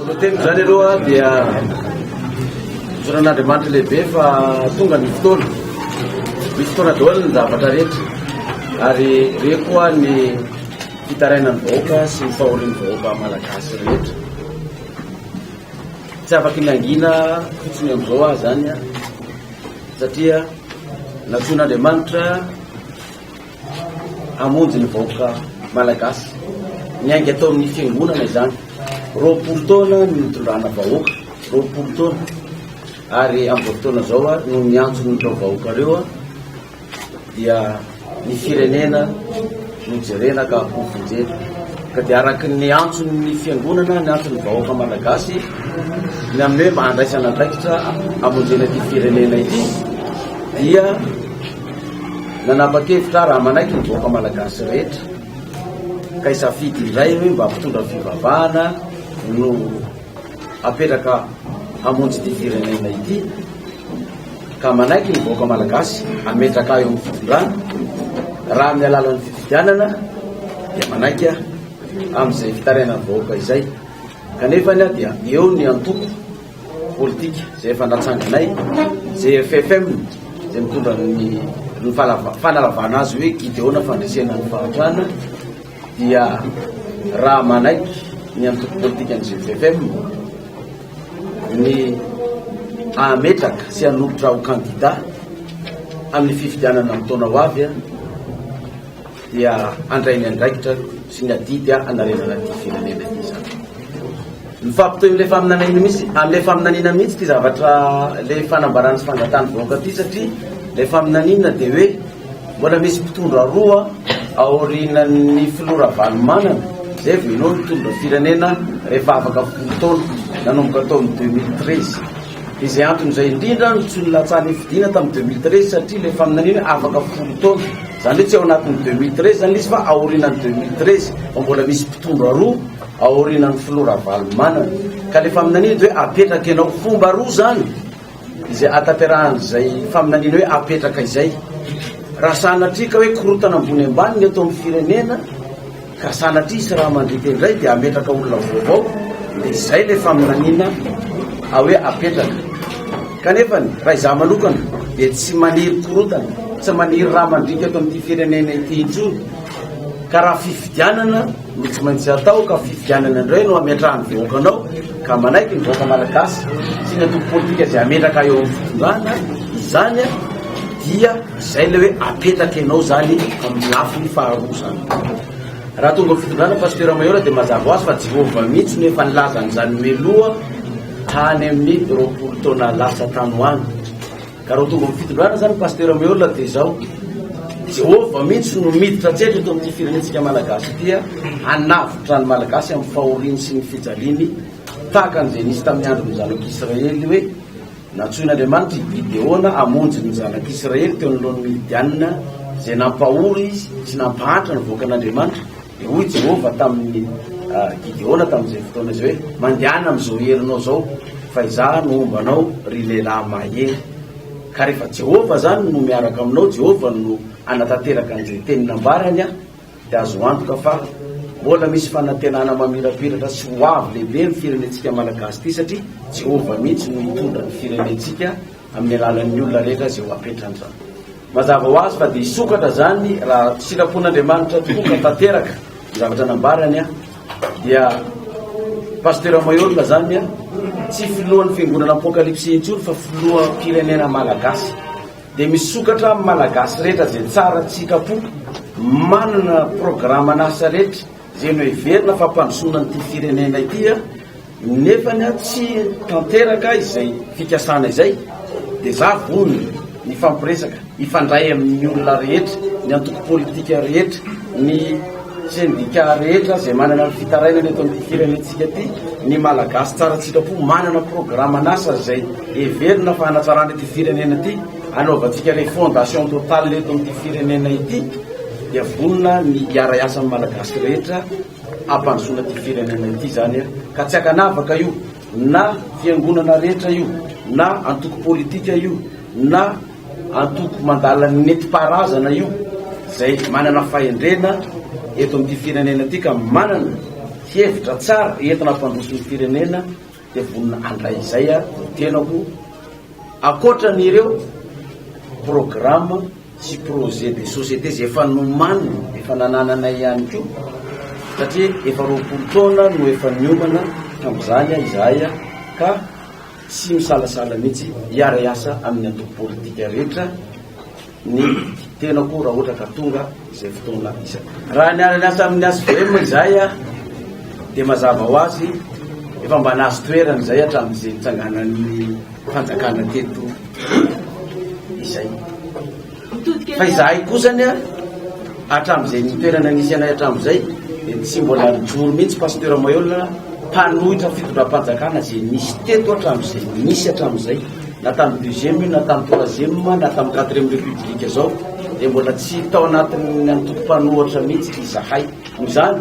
Ny teniko izany aloha dia zoran'Andriamanitra lehibe fa tonga ny fotoana. Misy fotoana daholo ny zavatra rehetra ary re koa ny fitarainan'ny vahoaka sy ny fahorian'ny vahoaka malagasy rehetra. Tsy afaka ny angina fotsiny amin'izao aho izany satria nantsoin'Andriamanitra hamonjy ny vahoaka malagasy. Niainga atao amin'ny fiangonana izany. Roapolo taona ny nitondrana vahoaka, roapolo taona. Ary amin'izao fotoana izao no miantso ny vahoaka ireo dia ny firenena no jerena ka ho vonjena. Ka dia araka ny antson'ny fiangonana, ny antson'ny vahoaka malagasy, ny amin'ny hoe mba handraisana andraikitra amonjena ity firenena ity dia Nanapa-kevitra aho raha manaiky ny vahoaka malagasy rehetra ka hisafidy indray hoe mba mpitondra fivavahana no apetraka hamonjy ity firenena ity ka manaiky ny vahoaka malagasy ametraka ahy eo amin'ny fitondrana raha amin'ny alalan'ny fifidianana dia manaiky aho amin'izay fitarainan'ny vahoaka izay kanefa ny aho dia eo ny antoko politika izay efa natsanganay GFFM izay mitondra ny ny fanalavana azy hoe Gideona fandresena ny fahantrana dia raha manaiky ny antoko politika ny GFFM ny hametraka sy hanolotra ho kandida amin'ny fifidianana amin'ny taona ho avy dia handray ny andraikitra sy ny adidy hanarenana ity firenena ity izany. Mifampitohy amin'ilay faminaniana misy, amin'ilay faminaniana mihitsy ity zavatra ilay fanambarana sy fangatahana vahoaka ity satria ilay faminaniana dia hoe mbola misy mpitondra roa aorianan'ny filoha Ravalomanana izay vao inoa nitondra firenena rehefa afaka folo taona nanomboka tamin'ny 2013. Izay antony izay indrindra no tsy nilatsahan'ny nifidiana tamin'ny deux mille treize satria ilay faminaniana hoe afaka folo taona. Izany hoe tsy ao anatin'ny deux mille treize izany ilay izy fa aorianan'ny deux mille treize fa mbola misy mpitondra roa aorianan'ny filoha Ravalomanana. Ka ilay faminaniana dia hoe apetraka ianao. Fomba roa izany izay ahatanterahan' izay faminaniana hoe apetraka izay. Raha sanatria ka hoe korontana ambony ambany ny eto amin'ny firenena, Ka sanatria hisy raha mandriaka indray dia hametraka olona vaovao dia izay ilay faminaniana a hoe apetraka. Kanefa ny raha izaho manokana dia tsy maniry korontana, tsy maniry raha mandriaka eto amin'ity firenena ity intsony. Ka raha fifidianana no tsy maintsy atao ka fifidianana indray no hametrahany vahoaka anao, ka manaiky ny vahoaka malagasy sy ny antoko politika izay hametraka eo amin'ny fitondrana izany dia izay ilay hoe apetraka ianao izany amin'ny lafiny faharoa izany raha tonga fitondrana pasteur Mayor dia mazava ho azy fa Jehovah mihitsy no efa nilaza an'izany meloha tany amin'ny roapolo taona lasa tany ho any Ka raha tonga amin'ny fitondrana zany Pasteur Meola dia izao, Jehovah mihitsy no miditra an-tsehatra eto amin'ity firenentsika Malagasy ity hanavotra ny Malagasy amin'ny fahoriany sy ny fijaliany tahaka an'izay nisy tamin'ny andron'ny zanak'Israely hoe nantsoin'Andriamanitra i Gideona hamonjy ny zanak'Israely teo anoloan'ny Midianina izay nampahory sy nampahantra ny vahoakan'Andriamanitra Hoy Jehovah tamin'i Gideona tamin'izay fotoana izay hoe, Mandehana amin'izao herinao izao, fa izaho no homba anao, ry lehilahy mahery. Ka rehefa Jehovah izany no miaraka aminao, Jehovah no hanatanteraka an'izay teny nambarany, dia azo antoka fa mbola misy fanantenana mamirapiratra sy hoavy lehibe ny firenentsika Malagasy ity, satria Jehovah mihitsy no hitondra ny firenentsika amin'ny alalan'ny olona rehetra izay ho apetrany izany. Mazava ho azy fa dia hisokatra izany raha sitrapon'Andriamanitra tokoa ka tanteraka ny zavatra nambarany dia Pasteur Mayorga izany tsy filohan'ny fiangonana apokalypsy intsony fa filoham-pirenena malagasy. Dia misokatra amin'ny malagasy rehetra izay tsara tsy sitrapo, manana programan'asa rehetra izay noheverina fa hampandrosoana an'ity firenena ity nefa ny ahy tsy tanteraka izay fikasana izay dia za vonona hifampiresaka hifandray amin'ny olona rehetra ny antoko politika rehetra ny sendika rehetra izay manana ny fitarainana eto amin'ny firenentsika ity ny malagasy tsara tsitrapo manana programan'asa izay heverina fa hanatsarana ity firenena ity anaovantsika refondation totale eto amin'ny firenena ity dia vonona ny hiara-hiasa amin'ny malagasy rehetra hampandrosoana ity firenena ity izany e, ka tsy ankanavaka io na fiangonana rehetra io na antoko politika io na antoko mandala ny nentim-paharazana io izay manana fahendrena eto amin'ity firenena ity ka manana hevitra tsara entina hampandroso ny firenena dia vonona handray izay ary ny tenako ankoatran'ireo programme sy projet de société izay efa nomaniny efa nanananay ihany koa satria efa roapolo taona no efa niomana tamin'izany izahay ka tsy misalasala mihitsy hiara-hiasa amin'ny antoko politika rehetra ny tenako raha ohatra ka tonga izay fotoana izay. Raha niara niasa amin'ny HVM izahay dia mazava ho azy efa mba nahazo toerana izay hatramin'izay nitsanganan'ny fanjakana teto izay. Fa izahay kosa ania hatramin'izay nitoerana nisy anay hatramin'izay dia tsy mbola nijoro mihitsy pasteur Mayola mpanohitra fitondram-panjakana izay nisy teto hatramin'izay nisy hatramin'izay. na tamin'ny deuxième io na tamin'ny troisième na tamin'ny quatrième république zao dia mbola tsy tao anatin'ny antokom-panohatra mihitsy izahay noho izany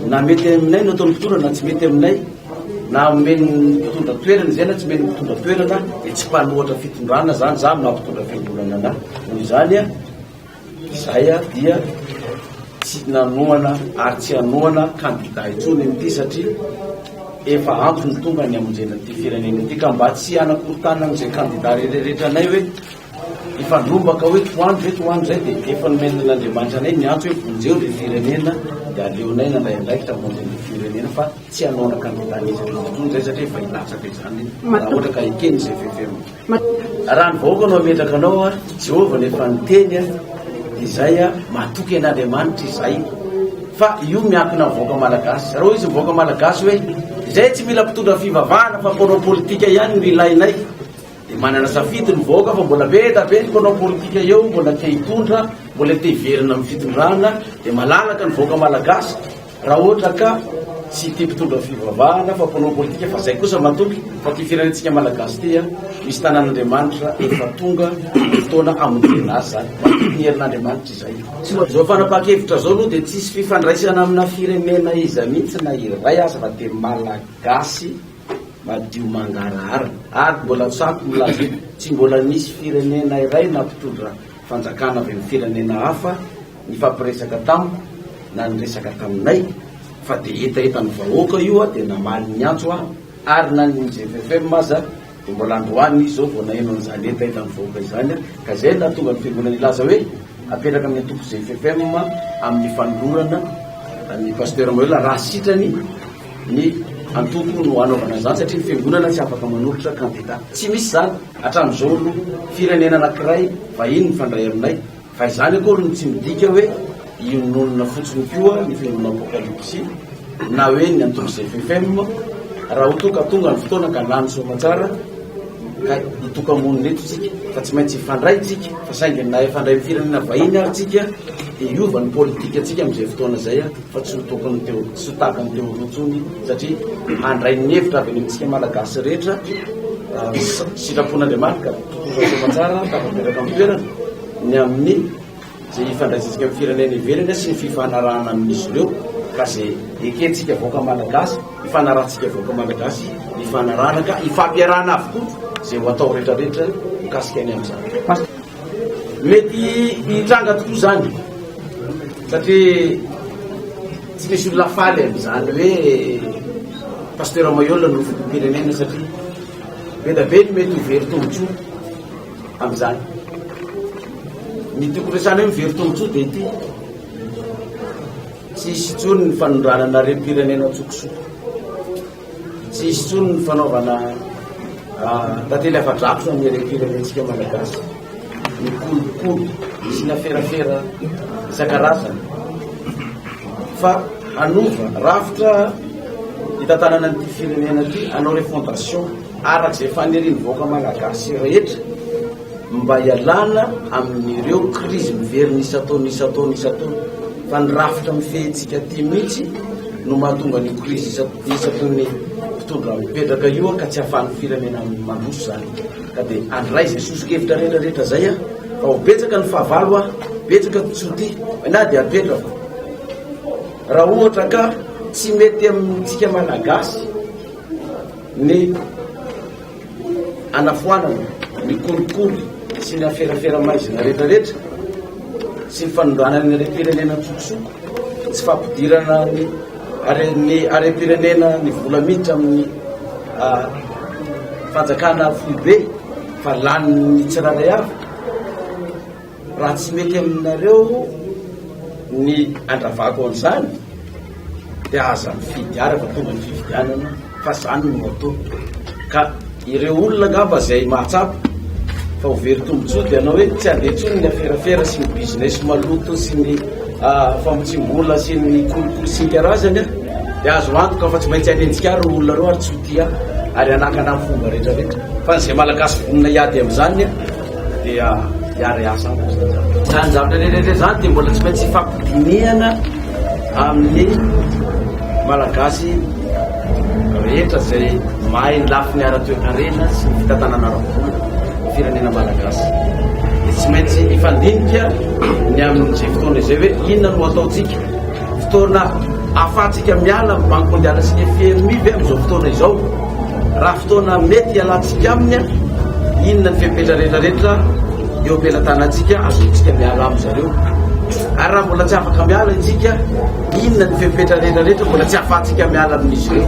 na mety aminay no ataon'ny mpitondra na tsy mety aminay na omen'ny mpitondra toerana izay na tsy omen'ny mpitondra toerana dia tsy mpanohatra fitondrana zany za maha mpitondra fiangonana anahy noho izany a Izay aho dia tsy nanohana ary tsy hanohana kandida intsony an'ity satria efa ampy ny tonga ny hamonjena ity firenena ity ka mba tsy hanakorontana an'izay kandida rehererehetra anay hoe hifandrombaka hoe tohano ve tohano izay dia efa nomen'Andriamanitra anay miantso hoe vonjeo ilay firenena dia aleonay nandray andraikitra hamonjy ny firenena fa tsy hanohana kandida an'iza an'iza intsony izay satria efa hilatsaka izany raha ohatra ka ekeny izay fefeminy. Raha ny vahoaka no hametraka anao a Jehovah no efa niteny dia izay a matoky an'Andriamanitra izahay fa io miankina amin'ny vahoaka malagasy raha hoy izy ny vahoaka malagasy hoe izay tsy mila mpitondra ny fivavahana fa mpanao politika ihany no ilainay dia manana safidy ny vahoaka fa mbola be da be ny mpanao politika eo mbola te hitondra mbola te hiverina amin'ny fitondrana dia malalaka ny vahoaka malagasy Raha ohatra ka tsy ity mpitondra fivavahana fa mpanao politika fa zay kosa matoky fa ty firenentsika malagasy ty a misy tanan'Andriamanitra efa tonga ny fotoana hamonjena azy zany matoky ny herin'Andriamanitra izay. Zao fanapahan-kevitra zao aloha dia tsisy fifandraisana amina firenena iza mihitsy na iray aza fa dia malagasy madio mangarahara ary mbola tsapy milaza eto tsy mbola nisy firenena iray na mpitondra fanjakana avy amin'ny firenena hafa Nifampiresaka tamiko na niresaka taminay fa dia hetahetan'ny vahoaka io dia namaly niantso aho ary na ny GFFM aza dia mbola androany izy izao vao naheno an'izany hetahetan'ny vahoaka izany ka izay no nahatonga ny fiangonana hilaza hoe apetraka amin'ny antoko GFFM amin'ny fanolorana ny Pasteur Manuel raha sitrany ny antoko no hanaovana izany satria ny fiangonana tsy afaka manolotra kandida. Tsy misy izany hatramin'izao aloha. Firenena anankiray vahiny mifandray aminay Fa izany akory no tsy midika hoe iononona fotsiny koa ny fihainoana Apokalypsy na hoe ny antorizay ffm raha ho toa ka tonga ny fotoana ka lany soamatsara ka hitoka-monina eto tsika fa tsy maintsy hifandray tsika fa saingy na hifandray amin'ny firenena vahiny ary tsika dia hiova ny politika tsika amin'izay fotoana izay fa tsy ho tokony teo tsy ho tahaka ny teo rotsony satria handray ny hevitra avy any amintsika malagasy rehetra sitrapon'Andriamanitra Mpitondra soamantsara tafapetraka amin'ny toerana ny amin'ny izay hifandraisantsika amin'ny firenena ivelany sy ny fifanarahana amin'izy ireo ka izay ekentsika vahoaka Malagasy hifanarahantsika vahoaka Malagasy hifanarahana ka hifampiarahana avokoa izay ho atao rehetrarehetra mikasika ny amin'izany. Mety hitranga tokoa izany satria tsy misy olona faly amin'izany hoe Pasteur Mayola no filoham-pirenena satria Be dia be ny mety ho very tombontsoa amin'izany. Ny tiako resahana hoe very tombontsoa dia ity. Tsy hisy intsony ny fanondranana harem-pirenena an-tsokosoko. Tsy hisy intsony ny fanaovana ah, tantely afa-drakotra ny harem-pirenentsika malagasy. ny kolikoly sy ny aferafera isan-karazany fa hanova rafitra hitantanana an'ity firenena ity hanao refondation araka izay fanirian'ny vahoaka malagasy rehetra mba hialana amin'ireo krizy miverina isan-taona isan-taona isan-taona fa ny rafitra mifehintsika aty mihitsy no mahatonga ny krizy isan-taona ny mpitondra mipetraka io ka tsy ahafahan'ny firenena mandroso izany Ka dia andray izay soso-kevitra rehetra rehetra izay a! Fa ho betsaka ny fahavalo a! Betsaka ny tsy ho tia! Na dia apetrako fa raha ohatra ka tsy mety amintsika Malagasy ny anafoanana, ny kolikoly sy ny aferafera-maizina rehetra rehetra, tsy ny fanondranana ny harem-pirenena an-tsokosoko, tsy fampidirana ny Ary ny harem-pirenena ny vola miditra amin'ny fanjakana foibe fa lanin'ny tsirairay avy. Raha tsy mety aminareo ny andravako an'izany dia aza mifidy ary fa tonga ny fifidianana. Fa zany ny moto. Ka ireo olona angamba zay mahatsapa fa ho very tombontsoa dia hanao hoe tsy handeha intsony ny aferafera sy ny business maloto sy ny famotsiam-bola sy ny kolikoly sy ny karazany an! Dia azo antoka fa tsy maintsy hanenjika ahy ireo olona ireo ary tsy ho tia ahy ary hanakana ny fomba rehetrarehetra. Fa ny zay malagasy vonona hiady amin'izany an! dia hiary asa aminy izany zavatra izany. Izany zavatra rehetra izany dia mbola tsy maintsy hifampidinihana amin'ny Malagasy rehetra izay mahay ny lafiny ara-toekarena sy ny fitantanana ara-bola ny firenena Malagasy. Dia tsy maintsy hifandinika ny amin'izay fotoana izay hoe inona no hataontsika. Fotoana ahafahantsika miala amin'ny Banque Mondiale sy ny FMI ve amin'izao fotoana izao? Raha fotoana mety hialantsika aminy, inona ny fepetra rehetrarehetra eo am-pelatanantsika azontsika miala amin-dry zareo? Ary raha mbola tsy afaka miala isika, inona ny fepetra rehetrarehetra mbola tsy ahafahantsika miala amin'izy ireo?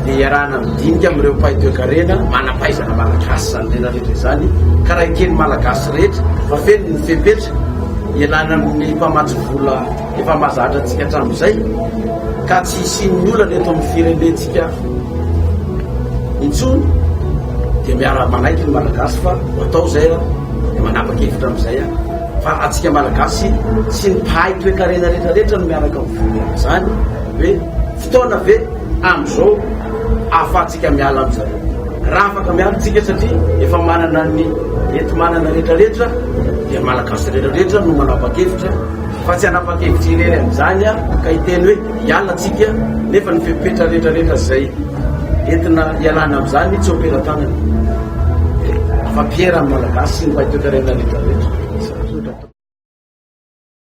Dia iarahana midinika amin'ireo mpahay toekarena manam-pahaizana malagasy izany rehetrarehetra izany, ka raha eken'ny Malagasy rehetra fa feno ny fepetra ialana amin'ny mpamatsy vola, Efa mahazatra antsika hatramin'izay ka tsy hisian'ny olana eto amin'ny firenentsika intsony dia miara manaiky ny malagasy fa atao izay dia manapa-kevitra amin'izay fa antsika malagasy sy ny mpahay toekarena rehetrarehetra no miaraka amin'izany hoe fotoana ve amin'izao ahafahantsika miala amin'izay raha afaka miala antsika satria efa manana ny enti-manana rehetrarehetra dia malagasy rehetrarehetra no manapa-kevitra Fa tsy hanapa-kevitra irery amin'izany aho ka hiteny hoe hiala tsika nefa ny fepetra rehetra rehetra izay entina hialana amin'izany tsy ompelatanana. Afa-piera ny Malagasy sy ny mpahay toekarena rehetra rehetra.